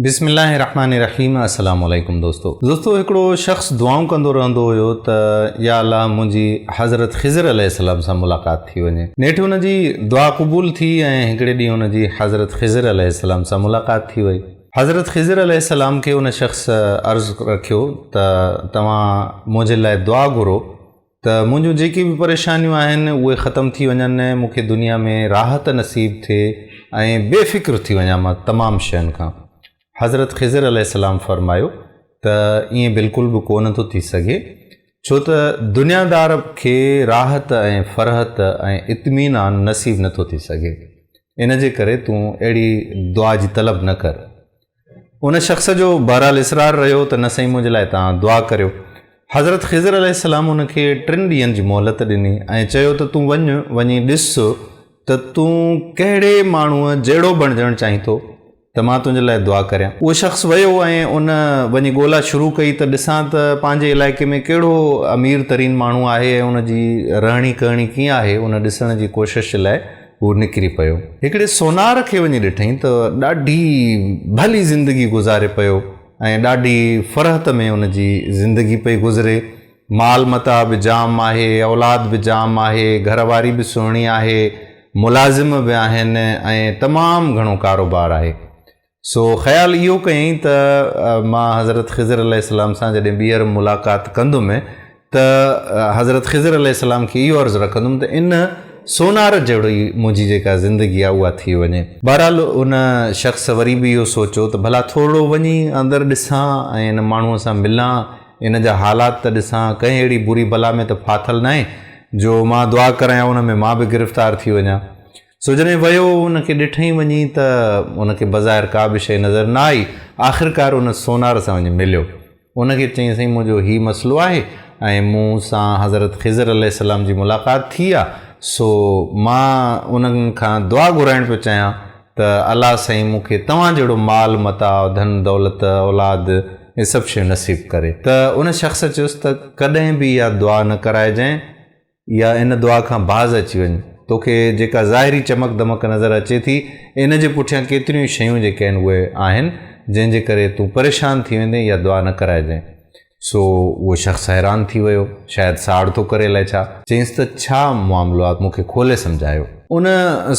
بسم الله الرحمن الرحيم السلام عليڪم دوستو دوستو هڪڙو شخص دعائون ڪندو رهندو هيو ته يا الله منهنجي حضرت خضر عليه السلام سان ملاقات ٿي وڃي نيٺ هن جي دعا قبول ٿي ۽ هڪڙي ڏينهن هن جي حضرت خضر عليه السلام سان ملاقات ٿي وئي حضرت خضر عليه السلام کي ان شخص عرض رکيو ته توهان منهنجي لاء دعا گهرو ته منهنجون جيڪي به پريشانيون آهن اهي ختم ٿي وڃن مون کي دنيا ۾ راحت نصيب ٿئي ۽ بي فڪر ٿي وڃان مان تمام شين کان حضرت خضر عليه السلام فرمايو ته ائين بلڪل به ڪو نه ٿو ٿي سگهي ڇو ته دنيا دار کي راحت ۽ فرحت ۽ اطمينان نصيب نه ٿو ٿي سگهي ان جي ڪري تون اهڙي دعا جي طلب نه ڪر ان شخص جو بهرحال اصرار رهيو ته نه سائين منهنجي لاء توهان دعا ڪريو. حضرت خضر عليه السلام ان کي ٽن ڏينهن جي مهلت ڏني ۽ چيو ته تون وڃ وڃي ڏس ته تون ڪهڙي ماڻهوء جهڙو بڻجڻ چاهين ٿو ته مان تنهنجي لاء دعا ڪريان. اهو شخص ويو ۽ ان وڃي ڳولا شروع ڪئي ته ڏسان ته پنهنجي علائقي ۾ ڪهڙو امير ترين ماڻهو آهي ۽ ان جي رهڻي ڪهڻي ڪيئن آهي ان ڏسڻ جي ڪوشش لاء هو نڪري پيو. هڪڙي سونار کي وڃي ڏٺئين ته ڏاڍي ڀلي زندگي گذاري پيو ۽ ڏاڍي فرحت ۾ ان جي زندگي پئي گذري. مال متاع به جام آهي، اولاد به جام آهي، گهر واري به سهڻي آهي، ملازم به آهن ۽ تمام گهڻو ڪاروبار آهي. سو خيال اهو ڪيائين ته مان حضرت خضر عليه السلام سان جڏهن ٻيهر ملاقات ڪندم ته حضرت خضر عليه السلام کي اهو عرض رکندم ته ان سونار جهڙي منهنجي جيڪا زندگي آهي اها ٿي وڃي. بهرحال ان شخص وري به اهو سوچيو ته ڀلا ٿورڙو وڃي اندر ڏسان ۽ ان ماڻهوء سان ملان، ان جا حالات ته ڏسان، ڪنهن اهڙي بري بلا ۾ ته ڦاٿل ناهي جو مان دعا ڪريان ان ۾ مان به گرفتار ٿي وڃان. سو جڏهن ويو ان کي ڏٺئين وڃي ته ان کي بظاهر ڪا به شيء نظر نه آئي، آخرڪار ان سونار سان وڃي مليو. ان کي چيائين سائين منهنجو هي مسئلو آهي ۽ مون سان حضرت خضر عليه السلام جي ملاقات ٿي آ، سو مان انهن کان دعا گهرائڻ پيو چاهيان ته الله سائين مون کي توهان جهڙو مال متاع، ڌن دولت، اولاد اهي سڀ شيون نصيب ڪري ته ان شخص چيس ته ڪڏهن به اها دعا نه ڪرائجانء، يا ان دعا کان باز اچي وڃ. توکي جيڪا ظاهري چمڪ دمڪ نظر اچي ٿي، ان جي پٺيان ڪيتريون ئي شيون جيڪي آهن اهي آهن، جنهن جي ڪري تون پريشان ٿي ويندين يا دعا نه ڪرائجين. سو اهو شخص حيران ٿي ويو، شايد ساڙ ٿو ڪري الائي ڇا؟ چيس ته ڇا معاملو آ، مون کي کولي سمجهايو. ان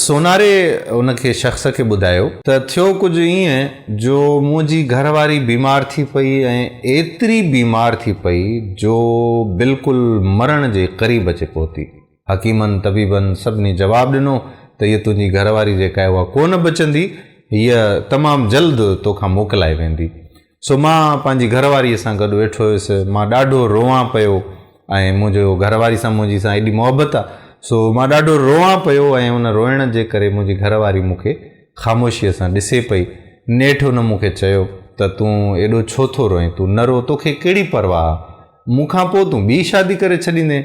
سوناري ان کي شخص کي ٻڌايو ته ٿيو ڪجهه ائين جو منهنجي گهر واري بيمار ٿي پئي ۽ ايتري بيمار ٿي پئي جو بلڪل مرڻ جي قريب اچي پهتي. حڪيمن طبيبن سڀني جواب ڏنو ته هيء تنهنجي گهر واري جيڪا آهي اها ڪو نه بچندي، هيء تمام جلد توکان موڪلائي ويندي. سو مان پنهنجي گهر واريء سان گڏ ويٺو هيس. مان ڏاڍو روئان پيو ۽ منهنجو گهر واري سان منهنجي سان ايڏي محبت آ سو مان ڏاڍو روئان پيو ۽ ان روئڻ جي ڪري منهنجي گهر واري مون کي خاموشيء سان ڏسي پئي. نيٺ ان مون کي چيو ته تون ايڏو ڇو ٿو روئين؟ تون نه رو توکي ڪهڙي پرواهه آ؟ مون کان پوء تون ٻي شادي ڪري ڇڏيندين.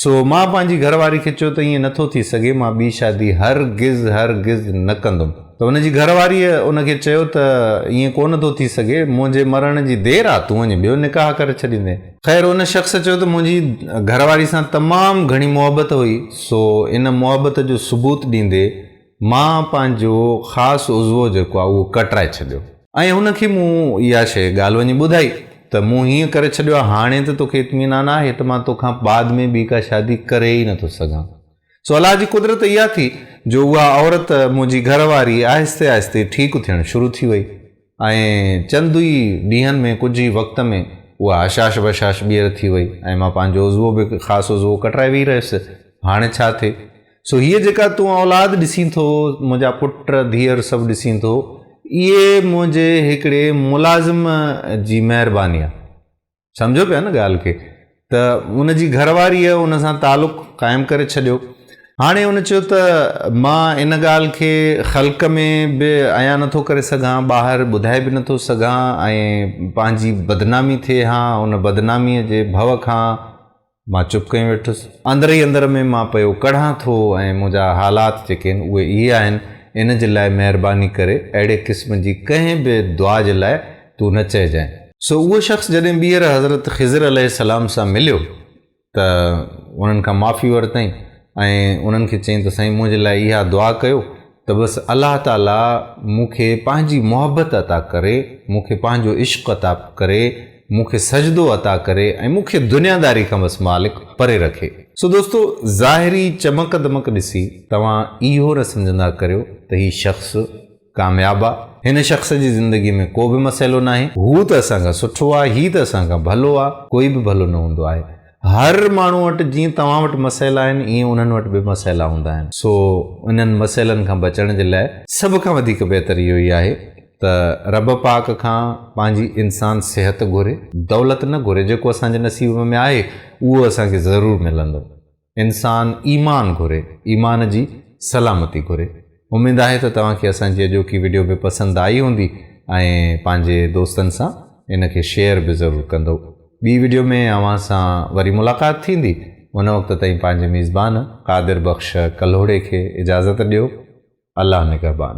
سو مان پنهنجي گهر واري کي چيو ته ائين نه ٿو ٿي سگهي، مان ٻي شادي هرگز هرگز نه ڪندم. ته هن جي گهر واريء ان کي چيو ته ائين ڪو نه ٿو ٿي سگهي، منهنجي مرڻ جي دير آ، تون وڃي ٻيو نڪاح ڪري ڇڏيندين. خير ان شخص چيو ته منهنجي گهر واري سان تمام گهڻي محبت هئي، سو ان محبت جو ثبوت ڏيندي مان پنهنجو خاص عضوو جيڪو آهي اهو ڪٽرائي ڇڏيو ۽ هن کي مون اها شيء ڳالهه وڃي ٻڌائي ته مون هيئن ڪري ڇڏيو آهي هاڻي ته توکي اطمينان آهي ته مان توکان بعد ۾ ٻي ڪا شادي ڪري ئي نٿو سگهان سو الله جي قدرت اها ٿي جو اها عورت منهنجي گهر واري آهستي آهستي ٺيڪ ٿيڻ شروع ٿي وئي. ائين چند ئي ڏينهن ۾ ڪجهه ئي وقت ۾ اها هشاش بشاش ٻيهر ٿي وئي ۽ مان پنهنجو عضوو به خاصو عضوو ڪٽرائي ويهي رهيس. هاڻي ڇا ٿئي؟ سو هيء جيڪا تون اولاد ڏسين ٿو، منهنجا پٽ ڌيئر سڀ ڏسين ٿو، اهي منهنجي هڪڙي ملازم جي مهرباني آهي. سمجهو پيا نه ڳالهه کي ته ان جي گهر واريء ان سان تعلق قائم ڪري ڇڏيو. هاڻي ان چيو ته مان ان ڳالهه کي خلق ۾ به عيان نه ٿو ڪري سگهان، ٻاهر ٻڌائي به نه ٿو سگهان ۽ پنهنجي بدنامي ٿئي ها، ان بدناميء جي ڀؤ کان، مان چپ ڪيون ويٺس. اندر ئي اندر ۾ مان پيو ڪڙهان ٿو ۽ منهنجا حالات جيڪي آهن اهي اهي آهن، ان جي لاء مهرباني ڪري اهڙي قسم جي ڪنهن به دعا جي لاء تون نه چئجانء. سو اهو شخص جڏهن ٻيهر حضرت خضر عليه السلام سان مليو ته انهن کان معافي ورتائين ۽ انهن کي چيائين ته سائين منهنجي لاء اها دعا ڪيو ته بس الله تعاليٰ مون کي پنهنجي محبت عطا ڪري، مون کي پنهنجو عشق عطا ڪري، مون کي سجدو عطا ڪري ۽ مون کي دنياداري کان بس مالڪ پري رکي. سو دوستو ظاهري چمڪ دمڪ ڏسي توهان اهو نه سمجهندا ڪريو ته هي شخص ڪامياب آ، هن شخص جي زندگي ۾ ڪو به مسئلو ناهي، هو ته اسان کان سٺو آ، هي ته اسان کان ڀلو آ، ڪوئي به ڀلو نه هوندو آهي، هر ماڻهو وٽ جيئن توهان وٽ مسئلا آهن ايئن انهن وٽ به مسئلا هوندا آهن سو انهن مسئلن کان بچڻ جي لاء سڀ کان وڌيڪ بهتر اهو ئي آهي ته رب پاڪ کان پنهنجي انسان صحت گهري دولت نه گهري جيڪو اسان جي نصيب ۾ آهي اهو اسان کي ضرور ملندو انسان ايمان گهري ايمان جي سلامتي گهري اميد آهي ته توهان کي اسان جي اڄوڪي وڊيو به پسند آئي هوندي ۽ پنهنجي دوستن سان ان کي شيئر به ضرور ڪندؤ. ٻي وڊيو ۾ اوهان سان وري ملاقات ٿيندي ان وقت تائين پنهنجي ميزبان قادر بخش ڪلهوڙي کي اجازت ڏيو. الله نگهبان.